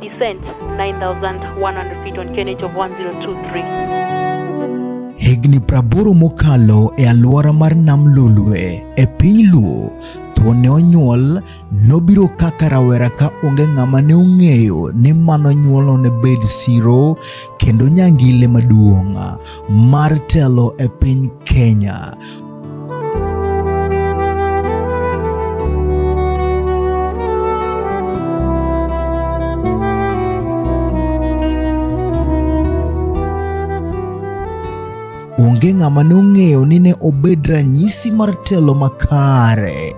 Descent 9100 feet on KNH of 1023. Higni praboro mokalo e alwora mar Nam Lolwe e piny Luo to ne onyuol nobiro kaka rawera ka onge ng'ama ne ong'eyo ni mano nyuolo ne bed siro kendo nyangile maduong' mar telo e piny Kenya. onge ng'ama nong'eyo ni ne obed ranyisi mar telo makare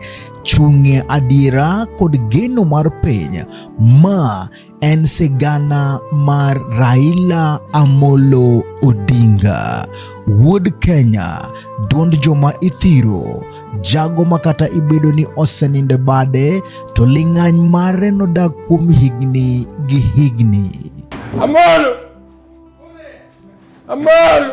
chung'e adiera kod geno mar piny ma en sigana mar Raila Amolo Odinga, wuod Kenya, duond joma ithiro, jago ma kata ibedo ni oseninde bade to ling'any mare nodak kuom higni gi higni. Amolo! Amolo!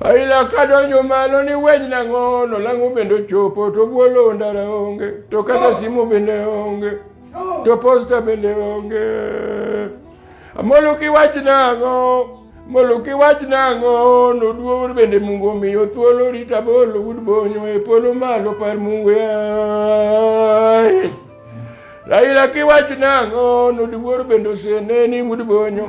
Aila kadonjo malo ni wej nang'o nolang'o bende ochopo to bwolo ndara onge to kata simu bende onge to posta bende onge amoluki wach nang'o moluki wach nang'o noduo bende mungu omiyo thuolo rita bolo wud bonyo e polo malo par mungu yaye Raila kiwach nang'o noduor bende oseneni wud bonyo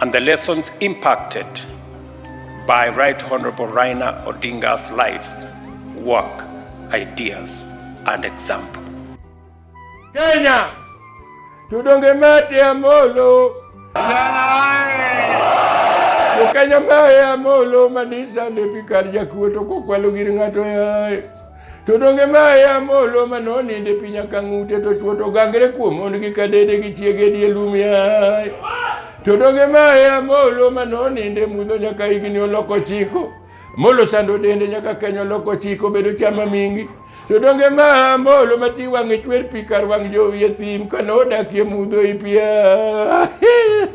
And the lessons impacted by Right Honorable Rainer Odinga's life, work, ideas, and example. Kenya, tudonge mate ya molo. Ukenya mae ya molo madisa ndepi kar jakuo to kokwalo gir ng'ato yaye. To donge ma e amolo ma noninde piny akang'ute to chwo to gangre kuom mondgi ka dede gi chiege die lum yaye to donge ma e amolo ma noninde mudho nyaka higni oloko chiko molo sando dende nyaka kenyo oloko chiko bedo chama mingi to donge ma amolo ma ti wang'e chwer pi kar wang' jowi e thim ka nodakie mudho i pia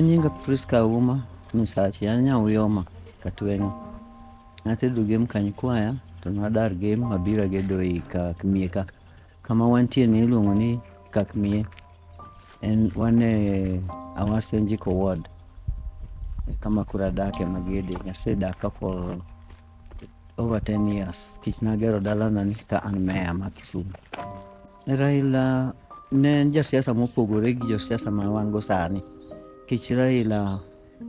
An nyinga Priska Auma Misachi, an Nyauyoma Katweng'o. Natedo gem Kanyikwaya to nadar gem mabiro agedo ei Kakmie ka. Kama wantie ni iluongo ni Kakmie. En wan e Awasyo Njiko Ward. E Kama koro adake magede. Asedaka for over 10 years. Tich nagero dalana ni ka an meya ma Kisumu. Raila ne en jasiasa mopogore gi josiasa ma wan go sani nikech Raila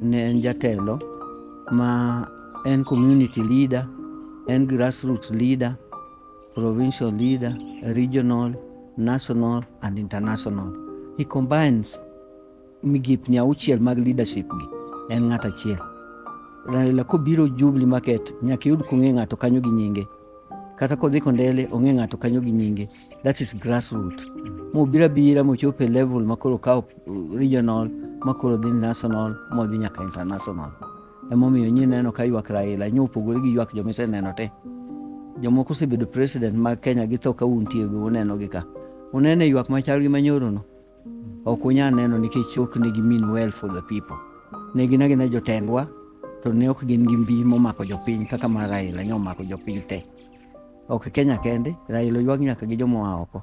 ne en jatelo ma en community leader, en grassroots leader, provincial leader, regional, national and international. He combines migepni auchiel mag leadership gi en ng'at achiel Raila kobiro Jubilee Market nyaka yud kong'e ng'ato kanyo gi nyinge kata kodhi Kondele ong'e ng'ato kanyo gi nyinge that is grassroot mobira bira mochop e level makoro kawo uh, regional makoro dhi national modhi nyaka international emomiyo nyi neno ka ywak Raila nyo opogore gi ywak jomiseneno te jomoko osebedo president mag Kenya gi to ka untie uneno gi ka unene ywak machal gi manyoro no ok unyal neno nikech ok ne gimin well for the people. Ne gin agina jotendwa to ne ok gin gi mbi momako jopiny kaka ma Raila nyo omako jopiny te. Ok Kenya kende, Raila oywag nyaka gi jomoa oko.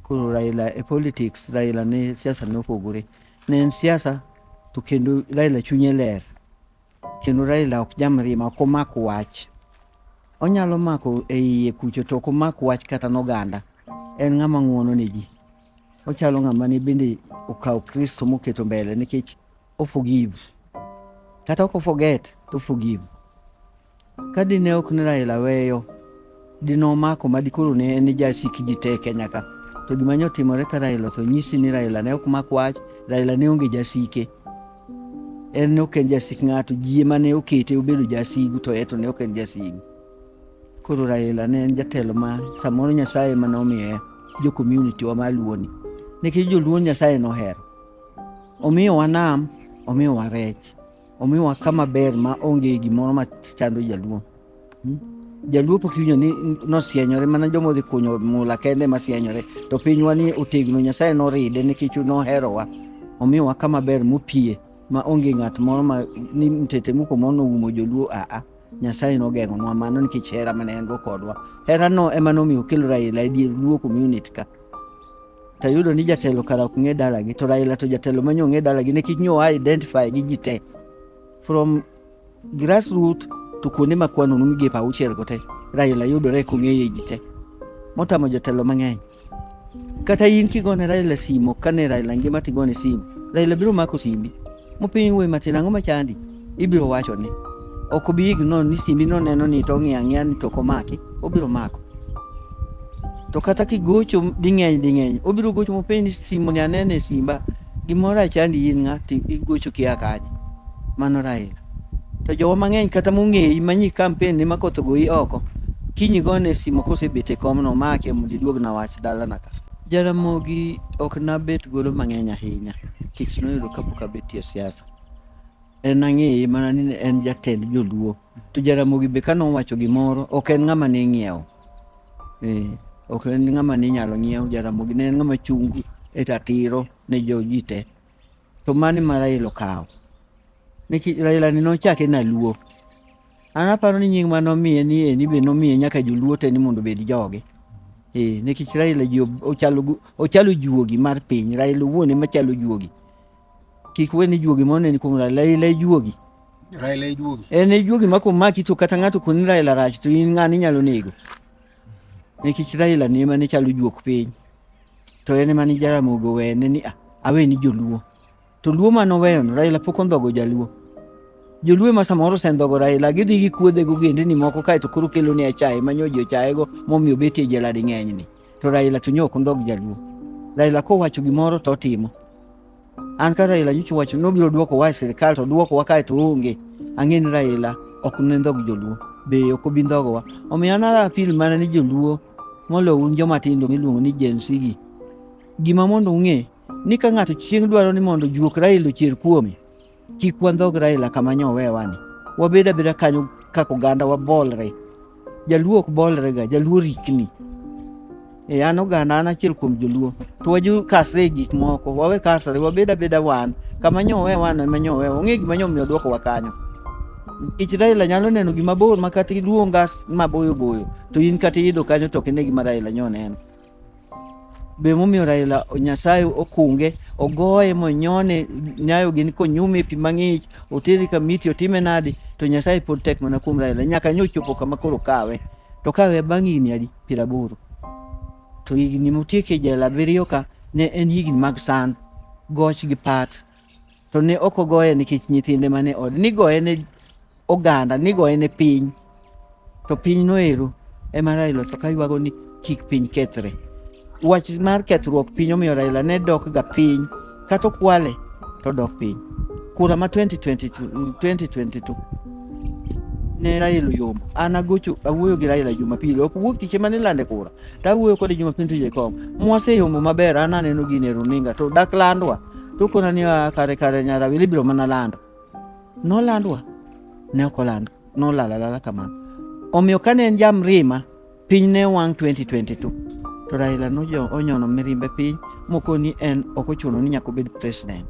Koro Raila e politics, Raila ne siasa ne opogore. Ne en siasa to kendo Raila chunye ler. Kendo Raila ok jamriema, ok omak wach. Onyalo mako e iye kucho to ok omak wach kata noganda. En ng'ama ng'uono ne ji. Ochalo ng'ama ne bende okawo Kristo moketo mbele nikech o forgive. Kata ok o forget, to forgive. Ka dine ok ne Raila weyo, dine omako ma dikoro ne en jasik ji te e Kenya ka. To gima ne otimore ka Raila otho nyisi ni Raila ne ok mak wach, Raila ne onge jasike. En ne ok en jasik ng'ato, ji ema ne okete obedo jasigu to eto ne ok en jasigu. Koro Raila ne en jatelo ma samoro Nyasaye ema nomiye jo community wa ma Luoni. Nikech joluo Nyasaye nohero. Omiyowa nam, omiyowa rech. Omiwa kama ber ma onge gimoro ma chando jaluo. Hmm? Jaluo pok iwinjo ni nosienyore mana joma odhi kunyo mula kende ma sienyore. To pinywa ni otegno Nyasaye noride nikech noherowa. Omiwa kama ber mopie ma onge ng'at moro ma ni mtete muko mono umo joluo a a. Nyasaye nogeng'o nwa mano nikech hera mane en go kodwa. Hera no ema nomiyo okel Raila e dier luo community ka. to yudo ni jatelo kara ok ng'e dalagi to Raila to jatelo ma nyo ng'e dalagi nikech nyo a identify gi ji te from grassroot to kuonde ma kwano nu migepe auchiel go te Raila yudore kong'eye ji te motamo jotelo mang'eny kata in kigone Raila simo kane Raila ngima tigone simo Raila biro mako simbi mopiny wuoyi matin ang'o machandi ibiro wacho ni ok obi igno ni simbi noneno ni to ong'iyo ang'iya ni to ok omaki obiro mako to kata kigocho ding'eny ding'eny obiro gocho mopenj ni simu ni anene e simba gimoro achandi in ng'a to igocho kia kanye mano Raila to jowa mang'eny kata mong'eyi manyi kampen ni makoth ogoyi oko kinyi gone simu kosebet e kom no make mondo iduog na wach dalana ka Jaramogi ok nabet godo mang'eny ahinya nikech noyudo kapok abetie siasa. en ang'eye mana ni en jatend joluo to jaramogi be kane owacho gimoro ok en ng'ama ne ing'iewo eh, ok en ng'ama ne inyalo ng'iew jaramogi ne en ng'ama chung' e ratiro ne joji te to mane ma raila okawo nikech raila ni nochake naluo an aparo ni nying ma nomiye ni eni be nomiye nyaka joluo te ni mondo obed joge eh, nikech raila ji ochalo ochalo juogi mar piny raila owuon ema chalo juogi kik we ni juogi mondo neni kuom raila ila ijuogi raila ijuogi en ijuogi ma komaki to kata ng'ato koni raila rach to in ng'ani inyalo nego nikech raila ni ema ne chalo juok piny to en ema ni jaramogo wene ni ah, awe ni joluo to luo ma noweyono raila pok ondhogo jaluo joluo ema samoro osendhogo raila gidhi gikuodhe gogendeni moko kaeto koro kelone achaye manyo ji ochayego momiyo betie jela ding'enyni to Raila to nyo ok ondhog jaluo. Raila kowacho gimoro to otimo. An ka Raila nyocha owacho ni obiro duoko wa e sirkal to duoko wa kae to onge. Ang'e ni Raila ok ne ndhog joluo. Be ok obi ndhogowa. Omiyo an ara apil mana ni joluo molo un joma tindo miluongo ni Gen Z gi. Gima mondo ung'e ni ka ng'ato chieng' dwaro ni mondo juok Raila ochier kuome, Kik wandhog Raila kama nyo wewa ni. Wabed abeda kanyo kaka oganda wabolre. Jaluo ok bolre ga, jaluo rikni. E an oganda an achiel kuom joluo. To waju kasre e gik moko, wawe kasre, wabed abeda wan. Kama nyo wewa ni ma nyo wewa. Ong'e gima nyo miyo dwoko wa kanyo. Ich Raila nyalo neno gima bor ma kata iluonga maboyo boyo to in kata iidho kanyo to ok ine gima Raila nyo neno. be momiyo Raila Nyasaye okunge ogoye monyone nyayo gini konyume pi mang'ich oteri kamiti otime nadi to Nyasaye pod tek mana kuom Raila nyaka nyo chopo kama koro kawe to kawe bang' higni adi piero aboro to higni motieke jela abiriyo ka ne en higni mag sand goch gi pat to ne ok ogoye nikech nyithinde mane od nigoye ne oganda nigoye ne piny to piny noero ema Raila ka ywago ni kik piny kethre wach mar kethruok piny omiyo Raila ne dok ga piny kata okwale to dok piny kura ma 2022, 2022 ne Raila yombo an agocho awuoyo gi Raila Jumapili ok wuok tich ema nilande kura to awuoyo kode Jumapili tije e kom mwaseyombo maber an aneno gini e runinga to dak landwa to kona ni ah, kare kare nyarawili biro mana lando nolandwa ne ok olando nolalalala kamano omiyo kane en jamrima piny ne wang' 2022 to Raila nonyono mirimbe piny mokoni en ok ochuno ni nyaka obed president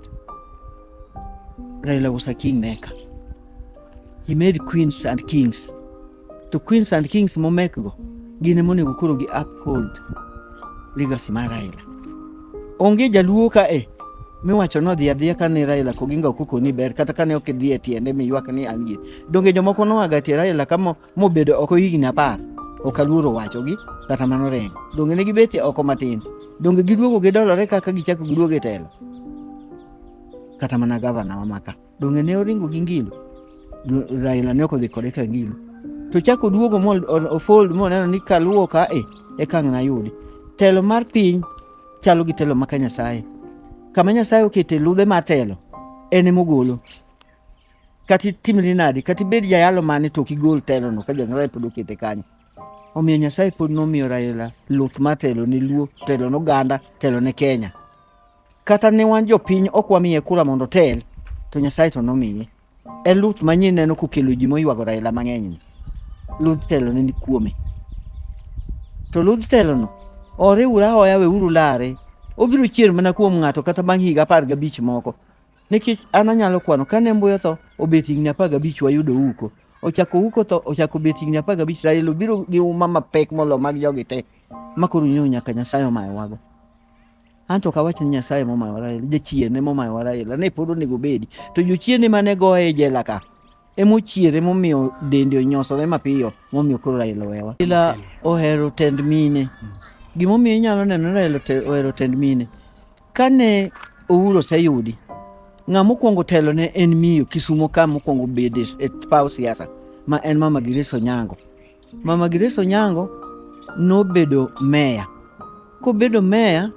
Raila was a kingmaker he made queens and kings To Queens and Kings momekgo gin ema onego koro gi uphold legacy mar Raila. Onge jaluo ka e miwacho nodhi adhiya kane Raila Koginga ok okoni ber kata kane ok idhi e tiende miywak ni an gi. Donge jomoko noaga tie Raila ka mo- mobedo oko higni apar ok aluoro wachogi kata mano reng. Donge ne gibetie oko matin. Donge giduogo gidolore kaka gichako giduogo e telo. Kata mana gavana wa maka. Donge ne oringo gi ngilo? Raila ne okodhi kode ka ngilo. To chako oduogo mo ofold mo neno ni kaluwo ka e e kang' na yudi. Telo mar piny chalo gi telo maka Nyasaye. Kama Nyasaye okete ludhe mar telo en e mogolo. Kati timri nadi, kati bed jayalo mane to kigol telo no ka Nyasaye pod okete kanyo. Omiyo Nyasaye pod nomiyo Raila luth mar telo ne luo, telo ne oganda, telo ne Kenya. Kata ne wan jopiny ok wamiye kura mondo otel, to Nyasaye to nomiye. En Luth manyien neno kokelo ji moywago Raila mang'enyni. Ludh telo ne ni kuome. To ludh telono oriwre ahoya weuru lare. Obiro chier mana kuom ng'ato kata bang' higa apar gabich moko. Nikech an anyalo kwano kane mbuyo tho obet higni apar gabich wayudo uko. Ochako uko tho ochako bet higni apar gabich Raila obiro gi uma mapek molo mag jogi te. Makoro nyaka Nyasaye omayowago. Anto ok awach ni Nyasaye momayo Raila, jachierne momayo Raila ne pod onego bedi. To jochierne mane goye e jela ka emochiere momiyo dende onyosore mapiyo momiyo koro Raila owewa. Raila ohero tend mine. Gimomiyo inyalo neno ni Raila ote- ohero tend mine. Kane Uhuru oseyudi, ng'a mokwongo telo ne en miyo Kisumo ka mokwongo bede e paw siasa ma en Mama Grace Onyango. Mama Grace Onyango nobedo meya. Kobedo meya,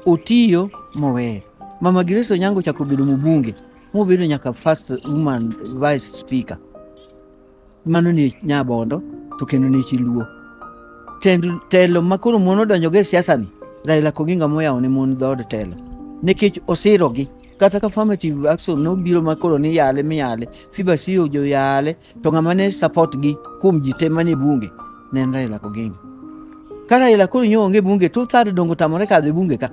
otiyo moweyo. Mama Grace Onyango chako bedo mbunge, mobedo nyaka first woman vice speaker. Mano ni Nyabondo to kendo ni Chiluo. Tend, telo ma koro mon odonjogo e siasani, Raila Koginga moyawo ne mon dhood telo nikech osirogi kata ka affirmative action nobiro ma koro ni yale miyale fiba siyo joyale To ng'ama ne support gi kuom ji te manie bunge ne en Raila Oginga. Ka Raila koro nyo onge bunge, two third dongo tamore kadho e bunge ka.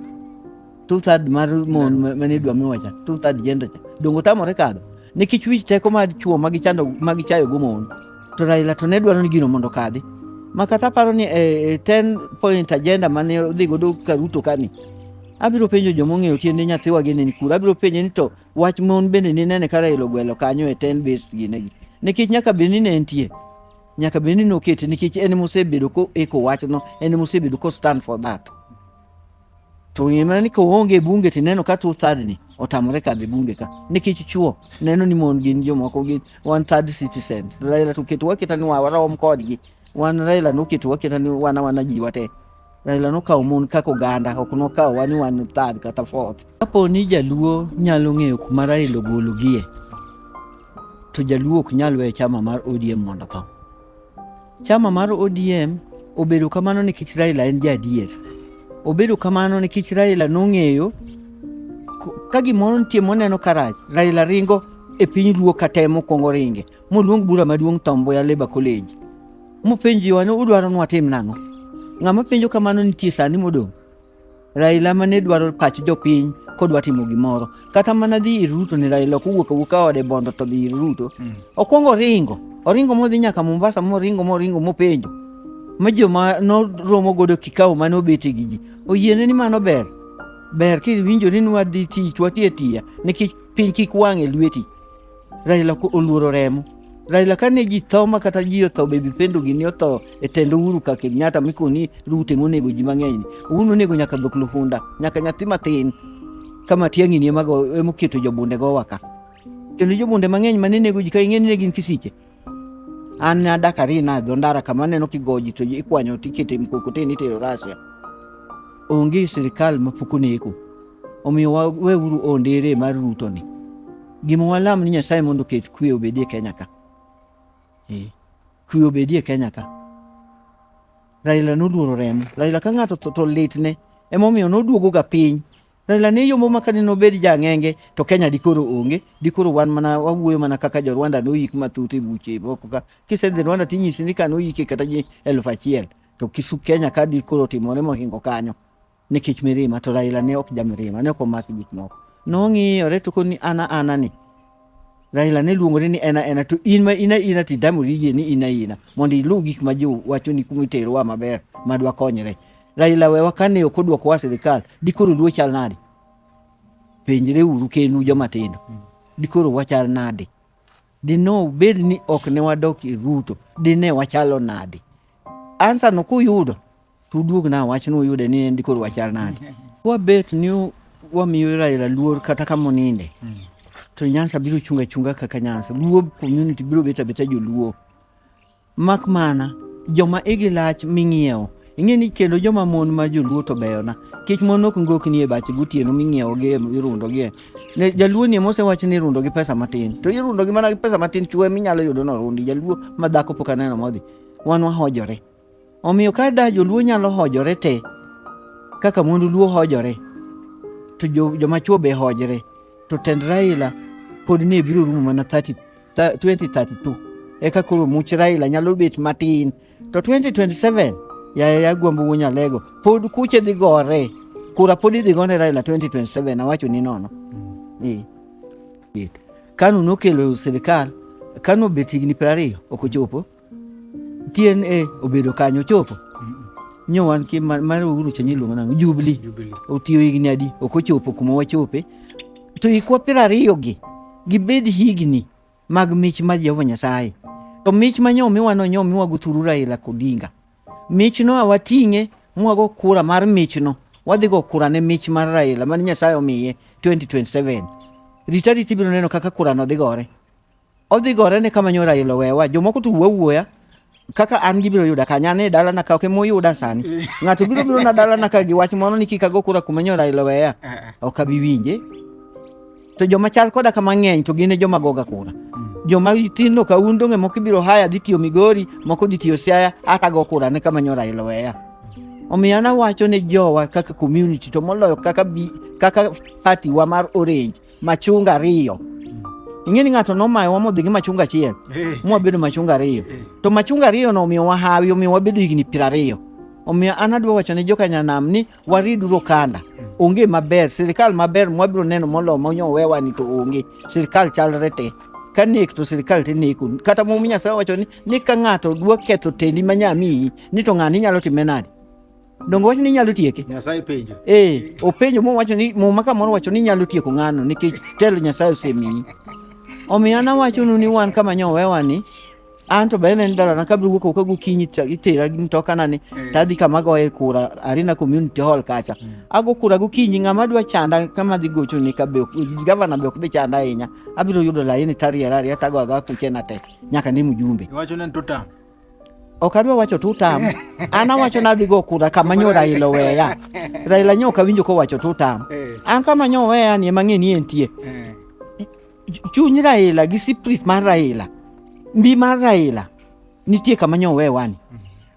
Two third mar mon mane dwa miwa cha, two third gender cha. Dongo tamore kadho. Nikech wich teko mar chuo ma gichando ma gichayo go mon. To Raila to ne dwaro ni gino mondo kadhi. Ma kata paro ni e, e 10 point agenda mane odhi godo Karuto kani. Abiro penjo jomong'eyo tiende nyathiwa gini ni kura. Abiro penje ni to Wach mon bende ninene ka Raila ogwelo kanyo e ten based ginegi. Nikech nyaka bed ni ne entie. Nyaka bed ni nokete nikech en mosebedo ko eko wachno, en mosebedo ko stand for that. To ngima ni koonge bunge tineno ka two third ni otamore kadhi bunge ka. Nikech chuo neno ni mon gin jomoko gin one third citizens. Raila to keto waketa ni warom kodgi. Wan Raila noketowa keta ni wana wana ji wate. Raila nokawo mon kaka oganda, ok nokawo wani wan third kata fourth. Kapo ni jaluo nyalo ng'eyo kuma Raila ogologie, to jaluo ok nyal weyo chama mar ODM mondo tho. Chama mar ODM obedo kamano nikech Raila en jaadier. Obedo kamano nikech Raila nong'eyo ka gimoro nitie moneno karach, Raila ringo e piny luo katemo kwongo ringe moluong bura maduong' Tom Mboya Labour College Mopenjowa ni udwaro ni watim nang'o? Ng'ama penjo kamano nitie sani modong'. Raila ma ne dwaro pach jopiny kodwa timo gimoro. Kata mana dhi ir Ruto ni Raila ok owuok awuoka ode bondo to dhi ir Ruto. Mm. Okwongo oringo. Oringo modhi nyaka Mombasa moringo moringo mopenjo. Ma joma noromo godo kikawo mane obete gi ji. Oyiene ni mano ber. Ber kiwinjori ni wadhi tich wati atiya nikech piny kik wang' e lweti. Raila oluoro remo. Raila kane ji tho ma kata ji otho baby pendo gini otho e tend Uhuru ka Kenyatta mikoni Ruto monego ji mang'eny ni. Uhuru nonego nyaka dhok lufunda, nyaka nyathi matin. Kama tiang'i ni emago emoketo jobunde go waka. Kendo jobunde mang'eny mane nego ji ka ing'e ni ne gin kisiche. an adak adhi nadho ndara kama aneno kigoji to ikwanyo tikete mkokoteni itero Russia. Onge sirikal mapok oneko, omiyo wa- weuru ondere mar Ruto ni. Gima walam ni Nyasaye mondo oket kwe obedie Kenya ka. Eh, Kwe obedie Kenya ka. Raila noluoro remo. Raila ka ng'ato tho to litne. Emomiyo noduogoga piny Raila ne yombo ma kane nobed jang'enge to Kenya dikoro onge, dikoro wan mana wawuoyo mana kaka jo Rwanda noyik mathoth e buche e boko ka. Kisedhi Rwanda tinyisi ni ka noyike kata ji elfu achiel to kisu Kenya ka dikoro timore mohingo kanyo nikech mirima to Raila ne ok jamirima, ne ok omak gik moko. Nong'iyore to koni ana ana ni Raila ne luongore ni en aena to in ma in aina to itamori yie ni in aina mondo iluw gik ma jo wachoni kuma iterowa maber ma dwakonyre. Raila wewa kane ok odwokowa sirikal dikoro luo chal nade? Penjre uru kenu joma tindo. Dikoro wachal nade? Dino bed ni ok ne wadok e Ruto dine wachalo nade? Ansa no kuyudo To uduog na wach ni uyude ni en dikor wachal nade. Wabet ni wamiyo Raila luor kata kama oninde. Mm. To Nyansa biro chunga chunga kaka Nyansa. Luo community biro beta beta joluo. Mak mana joma igi lach ming'iewo ing'e ni kendo joma mon ma joluo to beyona kech mon ok ngok nie bache gotieno ming'iewogi e, irundogie ne jaluo ni mosewacho ni irundo gi pesa matin to irundo gi mana gi pesa matin chwe minyalo yudo norundi jaluo ma dhako pok aneno modhi wan wahojore Omiyo ka da joluo nyalo hojore te kaka mond luo hojore to joma chwo be hojre to tend Raila pod ne biro rumo mana 30, 2032 eka koro much Raila nyalo bet matin to 2027 yaye agwambo wuo nyalego pod kuche dhi gore kura pod idhi gone Raila 2027 awacho ni nono mm. Kanu nokelo sirikal Kanu obet higni piero ariyo ok ochopo TNA obedo kanyo chopo nyo wan ki ma- mar Uhuru Chenye iluongo nang'o Jubilee Jubilee. otiyo higni adi ok ochopo kuma wachope to ikwa piero ariyogi gibed higni mag mich mar Jehova Nyasaye to mich ma nyo miwa no nyo miwa guthuru Raila Odinga michno awating'e mwago kura mar michno wadhi go kura ne mich mar Raila mane Nyasaye omiye 2027 rita rita ibiro neno kaka kurano dhi gore Odhi gore ne kama nyora ilo wewa. Jomoko to wuo wuoya kaka an gibiro yuda kanya ne dala na kake mo yuda sani ng'ato biro biro na dala na kagi wach mono ni kika go kura kuma nyora ilo weya eh, eh. ok abi winje to joma chal koda kama ng'eny to gine joma goga kura hmm. joma tinno ka un donge moko ibiro haya dhi tiyo migori moko dhi tiyo siaya aka go kura ne kama nyora ilo weya omiyo anawacho ne jowa kaka community to moloyo kaka, bi, kaka party wa mar orange machunga ariyo ing'e ni ng'ato nomayowa modhi gi machunga achiel eh. mwabedo machunga ariyo eh. to machunga ariyo no omiyo wahawi omiyo wabedo higni piero ariyo omiyo an adwa wacho ne jokanyanam ni wariduru okanda onge maber sirikal maber mwabiro neno molo monyowewa ni to onge sirikal chalre te ka nek to sirikal te neku kata mum nyasaye wacho ni ni ka ng'ato dwa ketho tendi ma nyamiyi ni to ng'ani inyalo time nade Donge wacho ni inyalo tieke? Nyasaye penjo. Eh, openjo mo wacho ni muma kamoro wacho ni inyalo tieko ng'ano nikech telo Nyasaye osemiyi. Omiyo an awachonu ni wan kama nyowewa ni an to bende en dalana kabiro wuok oko gokinyi to itera gi mtokana ni to adhi kama goye kura Arena Community Hall kacha. Ago kura gokinyi ng'ama dwa chanda kama dhi gocho ni ka be ok- gavana be ok dhi chanda ahinya. Abiro yudo laini tariera ariera tago aga kuchena te nyaka ne mjumbe. Iwacho ni en tutam. Ok adwa wacho tutam. An awacho ni adhi go kura kama nyo Raila oweya. Raila nyo ok awinjo kowacho tutam. Eh. An kama nyo oweya ni ema ng'e ni entie. Eh. Chuny Raila gi spirit mar Raila, mbi mar Raila nitie kama nyo owewa ni.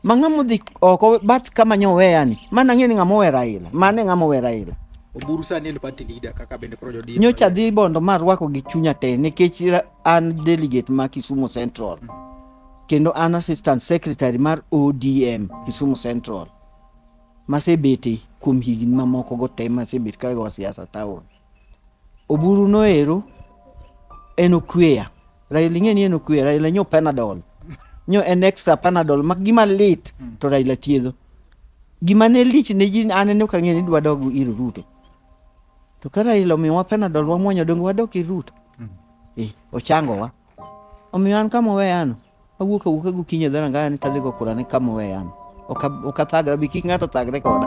Ma ng'ama odhi oko bath kama nyo oweya ni, mana ng'e ni ng'ama owe Raila, mane ng'ama owe Raila. Oburu sani en party leader kaka bende Projo Odinga. Nyocha adhi Bondo ma arwako gi chunya te nikech ra- an delegate ma Kisumu Central. kendo an assistant secretary mar ODM Kisumu Central masebete kuom higni mamoko go te masebet ka go siasa town. Oburu noero en okweya. Raila ing'e ni en okweya, Raila nyo Panadol. Nyo en extra Panadol mak gima lit to Raila thiedho. Gima ne lich ne ji an ne ok ang'eyo ni dwa dog ir Ruto. To ka Raila omiyowa Panadol wamwonyo donge wadok ir Ruto? Eh, ochangowa. Omiyo an kama oweyano, awuok awuoka gokinyi e dho rangayani tadhigo kurane kama oweyano. Ok ab- ok athagra bi kik ng'ato thagre koda.